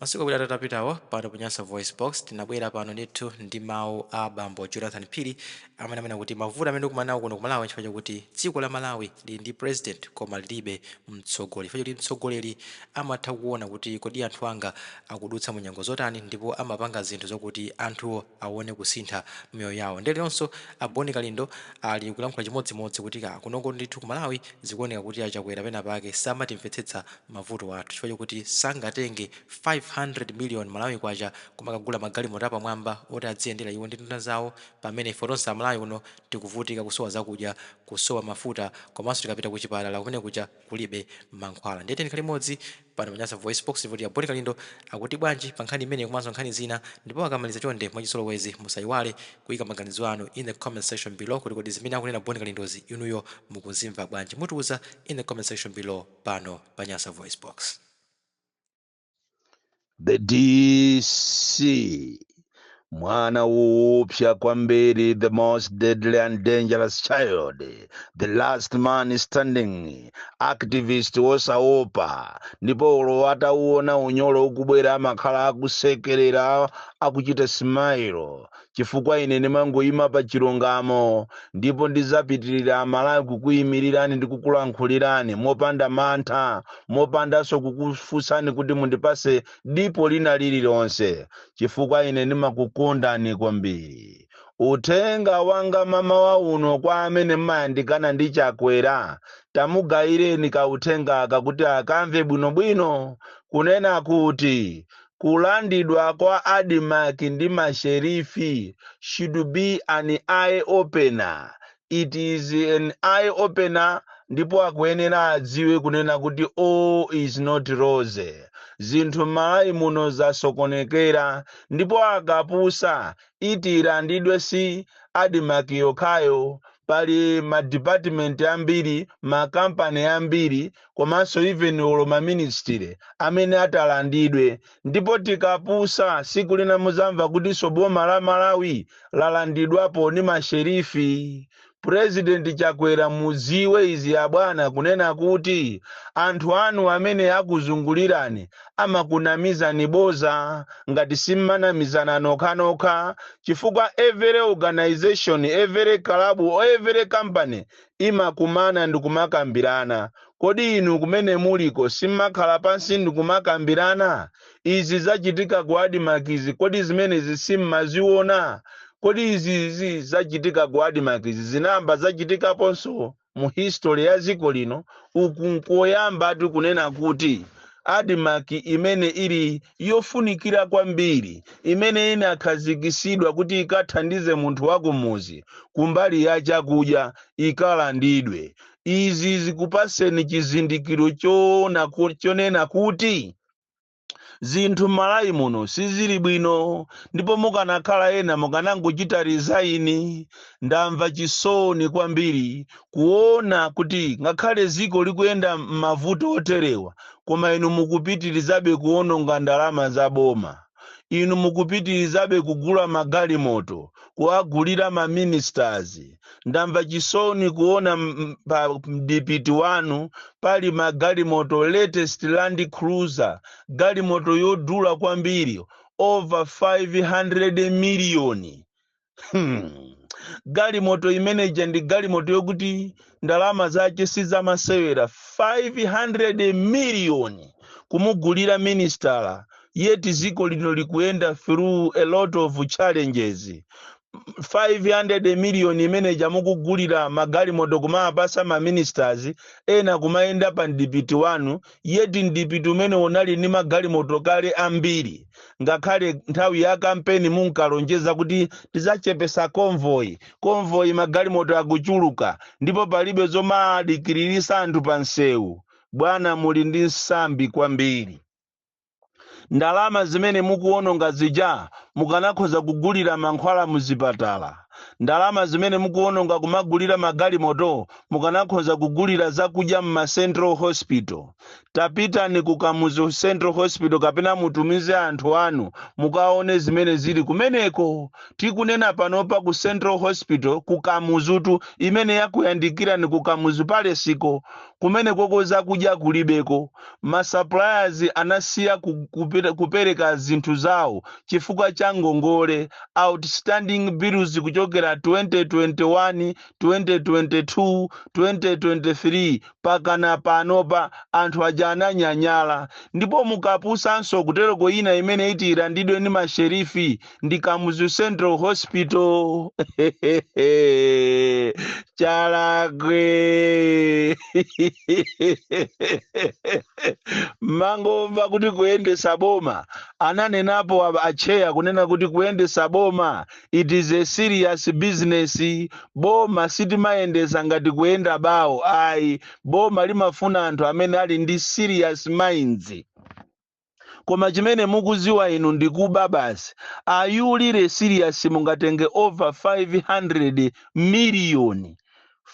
Masiku awiri atatu apitawo pano pa Nyasa VoiceBox, tinabwera pano ndithu ndi mawu a bambo Jonathan Phiri amene amanena kuti mavuto amene tikumana nawo kuno ku Malawi nchifukwa chakuti dziko la Malawi lili ndi President koma lilibe mtsogoleri chifukwa chakuti mtsogoleri amatha kuona kuti kodi anthu anga akudutsa mu nyengo zotani ndipo amapanga zinthu zokuti anthuwo awone kusintha mmiyoyo yawo nde leronso a Boni Kalindo ali kulankhula chimodzimodzi kuti kaa kunoko ndithu ku Malawi zikuoneka kuti a Chakwera pena pake samatimvetsetsa mavuto athu chifukwa chakuti sangatenge 500 million Malawi Kwacha kumakagula magalimoto apamwamba oti adziyendera iwo ndi nduna zawo pamene ife tonse a Malawi kuno tikuvutika kusowa zakudya kusowa mafuta komanso tikapita kuchipatala kumene kuja kulibe mankhwala ndiye tiyeni tikhale limodzi pano pa Nyasa VoiceBox, ndipo a Bon Kalindo akuti bwanji pa nkhani imeneyi komanso nkhani zina, ndipo akamaliza chonde mwachizolowezi musaiwale kuika maganizo anu in the comment section below kuti kodi zimene akunena Bon Kalindozi inuyo mukuzimva bwanji? Mutiuza in the comment section below pano pa Nyasa VoiceBox. the dc mwana woopsa kwambiri the most deadly and dangerous child the last man standing activist wosaopa ndipo olo atauona unyolo ukubwera amakhala akusekerera akuchita smile chifukwa ine ndimangoyima pa chilungamo, ndipo ndidzapitirira Amalawi kukuyimirirani ndi kukulankhulirani mopanda mantha, mopandanso kukufunsani kuti mundipatse dipo lina lililonse, chifukwa ine ndimakukondani kwambiri. Uthenga wanga mamawa uno kwa amene mmayandikana ndi Chakwera, tamugayireni kauthenga aka kuti akamve bwinobwino, kunena kuti, kulandidwa kwa Admarc ndi ma sherifi should be an eye opener, it is an eye opener ndipo akuyenera adziwe kunena kuti all is not rosy, zinthu m'Malawi muno zasokonekera ndipo akapusa iti ilandidwe si Admarc yokhayo pali ma department ambiri, ma company ambiri, komanso even olo ma ministry amene atalandidwe ndipo tikapusa siku lina muzamva kutinso boma la malawi lalandidwapo ni masherifi President Chakwera muziwe izi abwana kunena kuti anthu anu amene akuzungulirani amakunamizani boza ngati simmanamizana nokhanokha chifukwa every organization every club or every company imakumana ndikumakambirana. Kodi inu kumene muliko simmakhala pansi ndikumakambirana? Izi zachitika ku Admarc izi kodi zimenezi simmaziona? Kodi izi izi zachitika ku Admarc izi zinayamba zachitikaponso mu history ya dziko lino? Uku nkoyambatu kunena kuti Admarc imene ili yofunikira kwambiri imene inakhazikitsidwa kuti ikathandize munthu wakumudzi kumbali ya chakudya ikalandidwe. Izi zikupatseni chizindikiro chonena kuti zinthu m'malawi muno sizili bwino ndipo mukanakhala ena mukanangochita resign ndamva chisoni kwambiri kuona kuti ngakhale dziko likuyenda m'mavuto oterewa, koma inu mukupitirizabe kuwononga ndalama za boma. Inu mukupitirizabe kugula magalimoto, kuwagulira ma ministers. Ndamva chisoni kuona pa mdipiti wanu pali magalimoto latest Land Cruiser, galimoto yodula kwambiri over 500 miliyoni. galimoto imeneja ndi galimoto yokuti ndalama zake sizamasewera 500 miliyoni kumugulira minister yeti ziko lino likuyenda through a lot of challenges 500 miliyoni imeneja mukugulira magalimoto kumawapasa maministers ena kumayenda pa mdipiti wanu yeti mdipiti umene unali ndi magalimoto kale ambiri ngakhale nthawi ya kampeni munkalonjeza kuti tidzachepesa konvoyi konvoyi magalimoto akuchuluka ndipo palibe zomadikiririsa anthu pa msewu bwana muli ndi nsambi kwambiri ndalama zimene mukuwononga zija mukanakhoza kugulira mankhwala muzipatala ndalama zimene mukuwononga kumagulira magalimoto mukanakhoza kugulira zakudya mma central hospital tapitani ku kamuzu central hospital kapena mutumize anthu anu mukaone zimene zili kumeneko tikunena panopa ku central hospital ku kamuzutu imene yakuyandikirani ku kamuzu palesiko kumenekoko zakudya kulibeko ma suppliers anasiya kupereka zinthu zawo chifukwa cha ngongole outstanding bills kuchokera 2021 2022 2023 pakana panopa anthu aja ananyanyala ndipo mukapusanso kutereko ina imene iti ilandidwe ndi masherifi ndi kamuzu central hospital chalakwe mangomva kuti kuyendesa boma ananenapo acheya kunena kuti kuyendesa boma it is a serious business boma sitimayendesa ngati kuyenda bawo ayi boma limafuna anthu amene ali ndi serious minds koma chimene mukuziwa inu ndi kuba basi are you really serious mungatenge over 500 million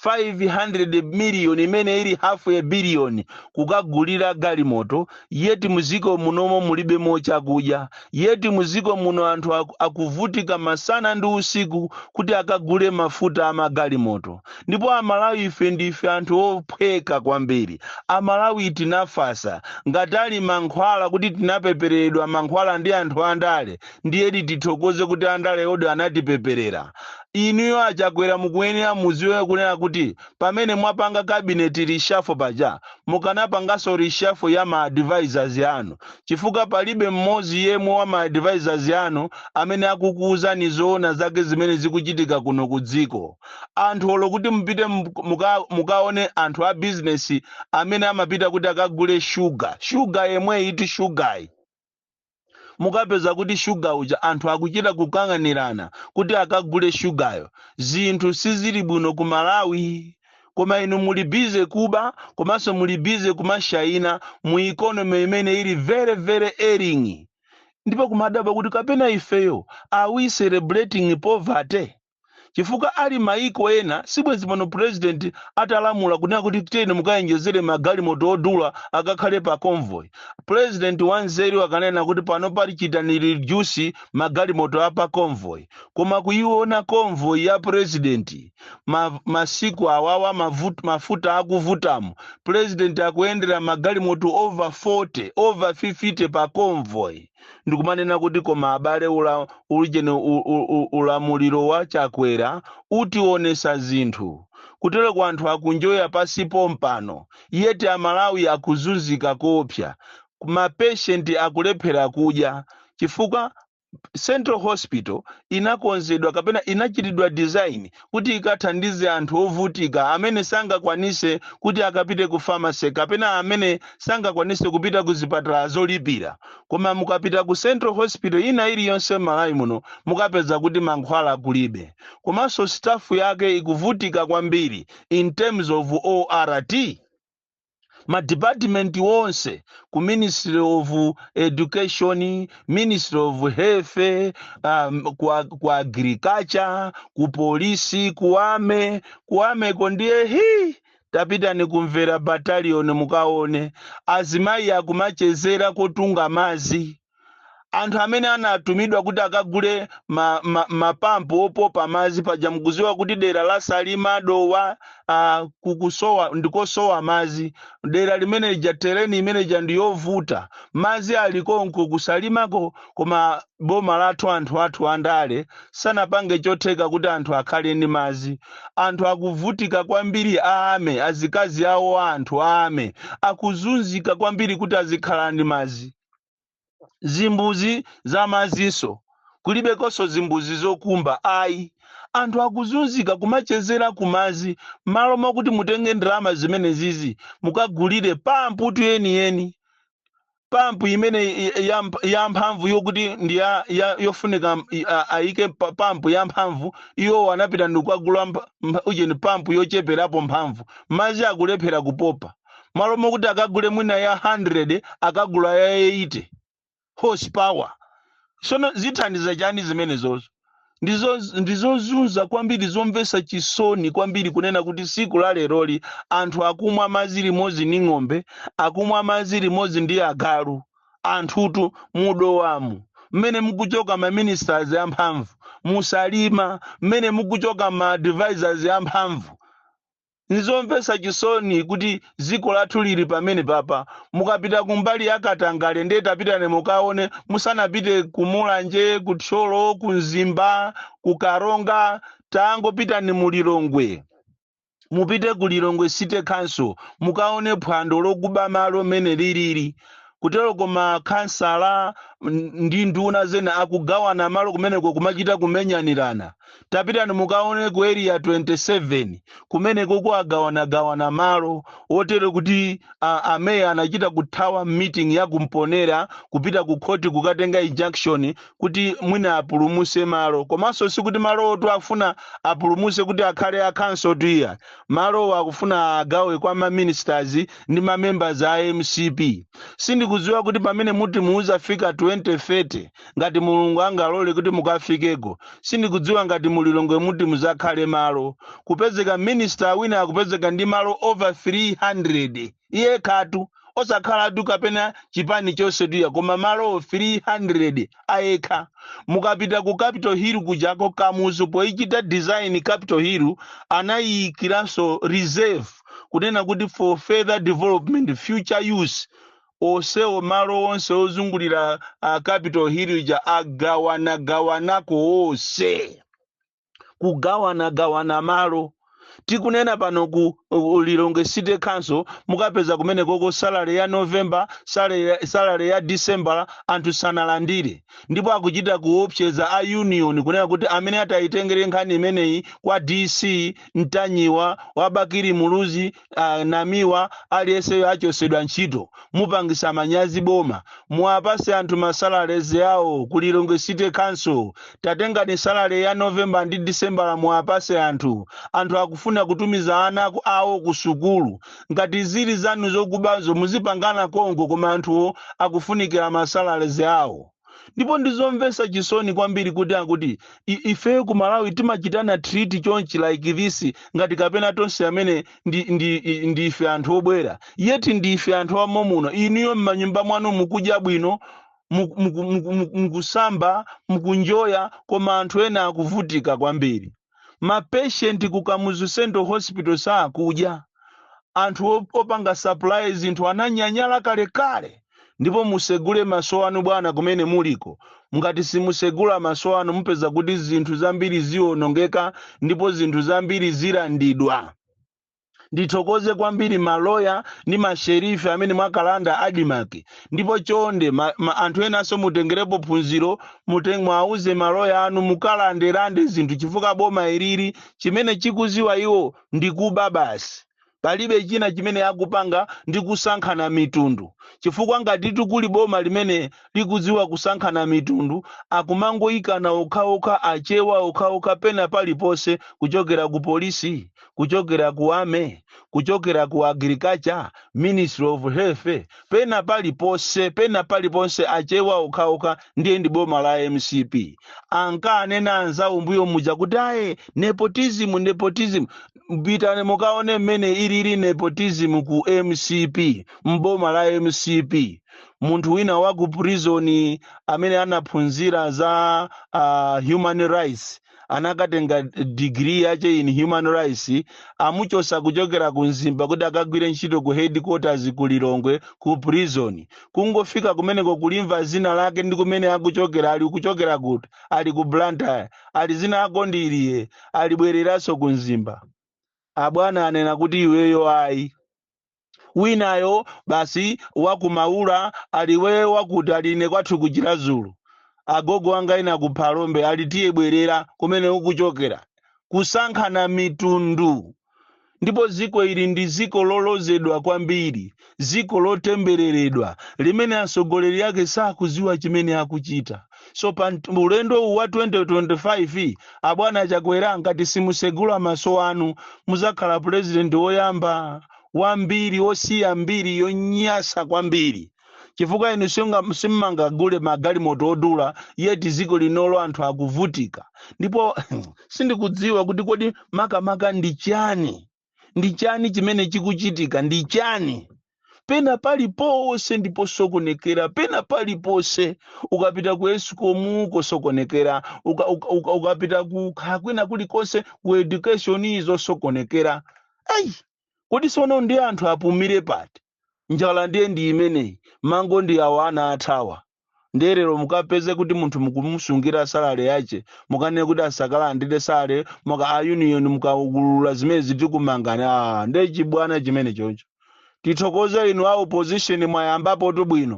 500 million imene ili half a billion kukagulira galimoto yeti muziko munomo mulibe mo chakudya yeti muziko muno anthu aku- akuvutika masana ndi usiku kuti akagule mafuta amagalimoto ndipo amalawi ife ndife anthu ophweka kwambiri amalawi tinafasa ngati ali mankhwala kuti tinapepereredwa mankhwala ndi anthu andale ndiyedi tithokoze kuti andalewodi anatipeperera inuyo a Chakwera mukuyenera muziwe kunena kuti pamene mwapanga kabineti rishafo paja mukanapanganso rishafo ya ma advisors yanu chifukwa palibe mmodzi yemwe wa ma advisors yanu amene akukuwuzani zoona zake zimene zikuchitika kuno ku dziko anthu olo kuti mupite muk- muka, mukaone anthu a bizinesi amene amapita kuti akagule shuga shuga yemweyitu shugayi mukapeza kuti shuga uja anthu akuchita kukang'anirana kuti akagule shugayo zinthu sizili bwino ku malawi koma inu muli bize kuba komanso muli bize kumashayina mu ikonomi imene ili very very ailing ndipo kumadabwa kuti kapena ifeyo are we celebrating poverty chifukwa ali maiko ena sibwenzi pano president atalamula kunena kuti tiyeni mukayenjezere magalimoto odula akakhale pa convoy president wanzeru akanena kuti panopa chitani reduce magalimoto a pa convoy koma kuyiona convoy ya president ma, masiku awawa mavut, mafuta akuvutamo president akuyendera magalimoto over 40 over 50 pa convoy ndikumanena kuti koma abale ula, ulijeni u- u- u- ulamuliro wa Chakwera utionesa zinthu kutereku anthu akunjoya pasi pa mpando yeti amalawi akuzunzika koopsa mapeshenti akulephera kudya chifukwa central hospital inakonzedwa kapena inachitidwa design kuti ikathandize anthu ovutika amene sangakwanise kuti akapite ku pharmacy kapena amene sangakwanise kupita ku zipatala zolipira koma mukapita ku central hospital ina iliyonse m'malawi muno mukapeza kuti mankhwala kulibe komanso staff yake ikuvutika kwambiri in terms of ORT ma department onse ku ministry of education ministry of health um, ku, ag- ku agriculture ku polisi ku ame ku ameko ndiye hi tapitani ku Mvera battalion mukaone azimayi akumachezera kotunga mazi anthu amene anatumidwa kuti akagule ma, ma, mapampu opopa madzi paja mukuziwa kuti dera la salima dowa ah, ndikosowa madzi dera limene lija tereni imene ija ndi yovuta madzi alikonko kusalimako koma boma lathu anthu athu andale sanapange chotheka kuti anthu akhale ndi madzi anthu akuvutika kwambiri a MA azikazi awo a anthu a MA akuzunzika kwambiri kuti azikhala ndi madzi zimbuzi za mazinso kulibekonso zimbuzi zokumba ayi anthu akuzunzika kumachezera kumazi malo mwakuti mutenge ndalama zimenezizi mukagulire pamputu yeniyeni pampu imene i- i- ya mp- ya mphamvu yokuti ndi ya, ya, yofunika m- i- a- ayike pa- pampu ya mphamvu iwo anapita ndikukagula mp- mp- ujeni pampu yocheperapo mphamvu mazi akulephera kupopa malo mokuti akagule mwina ya 100 akagula ya 80 horsepower sono zithandiza chani zimenezozo ndizozunza kwambiri zomvesa chisoni kwambiri kunena kuti siku la leroli anthu akumwa madzi limodzi ndi ng'ombe akumwa madzi limodzi ndi agalu anthutu mudowamu mmene mukuchoka ma ministers amphamvu musalima mmene mukuchoka ma advisors amphamvu Nizomvetsa chisoni kuti dziko lathu lili pamenepapa. Mukapita kumbali ya katangale ndiye tapitani mukaone musanapite ku Mulanje, ku Thyolo, ku Mzimba, ku Karonga, tangopitani mu Lilongwe. Mupite ku Lilongwe City Council mukaone phwando lokuba malo mmene lilili. Kuteroko makhansala mm, ndi nduna zina akugawana malo kumeneko kumachita kumenyanirana. tapitani mukaone ku area 27 kumenekuku agawanagawana malo otero kuti a, a meya anachita kuthawa meeting ya ku Mponela kupita ku khoti kukatenga injunction kuti mwina apulumuse malo komanso sikuti malowotu afuna apulumuse kuti akhale a khansotu iyayi malowo akufuna agawe kwa ma ministers ndi ma members a mcp sindikudziwa kuti pamene muti muzafike 2030 ngati mulungu angalole kuti mukafikeko sindikudziwa ngati mulilongwe muti muzakhale malo kupezeka minister wina akupezeka ndi malo over 300 iye yekhatu osakhalatu kapena chipani chonsetu iyayi koma malo 300 ayekha mukapita ku capital hill kujako kamuzu poichita design capital hill anayiyikiranso reserve kunena kuti for further development future use Onsewo malo onse ozungulira a Capital Hill ija agawanagawanako onse. Kugawanagawana malo. Tikunena pano ku ku Lilongwe City Council mukapeza kumenekoko salary ya November, salary ya, salary ya December anthu sanalandire. Ndipo akuchita kuopseza a union kunena kuti amene atayitengere nkhani imeneyi kwa DC Mtanyiwa, wa Bakili Muluzi, Namiwa aliyenseyo achotsedwa ntchito mupangisa manyazi boma muwapase anthu masalaries awo ku lilongwe city council tatengani salary ya november ndi december muwapase anthu anthu akufuna kutumiza ana aku- awo ku sukulu ngati zili zanu zokubazo muzipangana konko koma anthuwo akufunikira masalaries awo ndipo ndizomvetsa chisoni kwambiri kuti akuti i- ifeyo ku malawi timachitana treat chonchi like this ngati kapena tonse amene ndi, ndi, i- ndi ife anthu obwera yeti ndi ife anthu amo muno inuyo m'manyumba mwanu mukudya bwino muku- muku- muku- muku- mukusamba mukunjoya koma anthu ena akuvutika kwambiri ma patient ku kamuzu central hospital sakudya anthu op- opanga supply zinthu ananyanyala kalekale ndipo musegule maso anu bwana kumene muliko ngati simusegula maso anu mupeza kuti zinthu zambiri zionongeka ndipo zinthu zambiri zilandidwa ndithokoze kwambiri maloya ndi masherife amene mwakalanda adimaki ndipo chonde ma, ma, anthu enanso mutengerepo phunziro mute- mwauze maloya anu mukalandelande zinthu chifukwa boma ilili chimene chikuziwa iwo ndi kuba basi palibe china chimene akupanga ndi kusankhana mitundu chifukwa ngati kuli boma limene likudziwa kusankhana mitundu akumangoyikana okhaokha achewa okhaokha pena paliponse kuchokera ku polisi kuchokera ku army kuchokera ku agriculture ministry of health pena paliponse pena paliponse achewa okhaokha ndiye ndi boma la mcp ankanena anzawo mbuyo muja kuti aye nepotism nepotism pitani mukaone mmene ilili nepotism ku mcp mboma la mcp munthu wina wa ku prison amene anaphunzira za uh, human rights anakatenga digiri yache in human rights amuchosa kuchokera ku mzimba kuti akagwire ntchito ku headquarters ku lilongwe ku prison kungofika kumeneko kulimva zina lake ndi kumene akuchokera ali kuchokera kuti ali ku blantyre ali zina ako ndi iliye alibwereranso ku mzimba abwana anena kuti iweyo ayi winayo basi wa ku Maula aliwe wakuti ali ine kwathu ndi ku Chiradzulu agogo anga ina ku Phalombe ali tiye bwerera kumene ukuchokera kusankhana mitundu ndipo dziko ili ndi dziko lolozedwa kwambiri dziko lotembereredwa limene atsogoleri ake sakudziwa chimene akuchita so pa nt- ulendo uwu wa 2025 abwana Chakwera ngati simusegula maso anu muzakhala purezidenti woyamba wa mbiri wosiya mbiri yonyasa kwambiri chifukwa inu singa- simmangagule magalimoto odula yeti dziko linolo anthu akuvutika ndipo sindikudziwa kuti kodi makamaka ndi chani ndi chani chimene chikuchitika ndi chani pena paliponse ndi posokonekera pena paliponse ukapita ku ESCOM kosokonekera uka, uka, uka, ukapita ku kha- kwina kulikonse ku education zosokonekera ayi kodi sono ndi anthu apumire pati njala ndiye ndi imeneyi mango ndi awa ana athawa ndiye lero mukapeze kuti munthu mukumusungira salary yache mukanene kuti asakalandire salary muka a union mukaulula zimene zitikumangani a ndiye chibwana chimene choncho tithokoze inu a opposition mwayambapotu bwino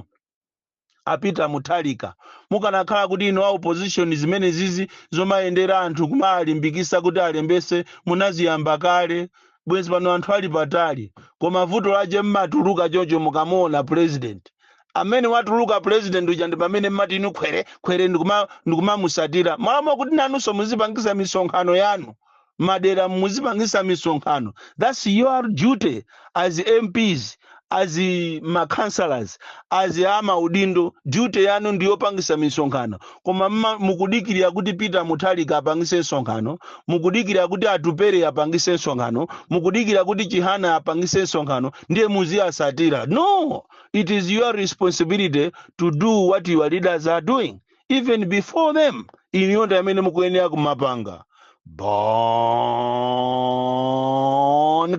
a Peter Mutharika, mukanakhala kuti inu a opposition zimenezizi zomayendera anthu kumawalimbikisa kuti alembese munaziyamba kale bwenzi pano anthu ali patali koma vuto lache mmatuluka choncho mukamuona president amene watuluka president uja ndi pamene mmati inu khwere khwere ndikuma ndikumamusatira malo mwa kuti nanunso muzipangisa misonkhano yanu madera muzipangisa misonkhano that's your duty as mps as ma councillors as amaudindo duty yanu ndiyopangisa misonkhano koma mma- mukudikirira kuti Peter Mutharika apangise msonkhano mukudikirira kuti Atupele apangise msonkhano mukudikirira kuti Chihana apangise msonkhano ndiye muziyasatira no it is your responsibility to do what your leaders are doing even before them inuyo ndi amene mukuyenera kumapanga Bon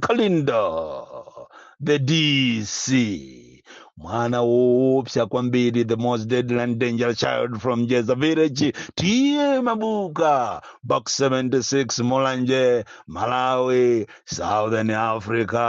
Kalindo the DC mwana woopsa kwambiri the most deadly and dangerous child from Njeza village TA Mabuka box 76 Mulanje Malawi Southern Africa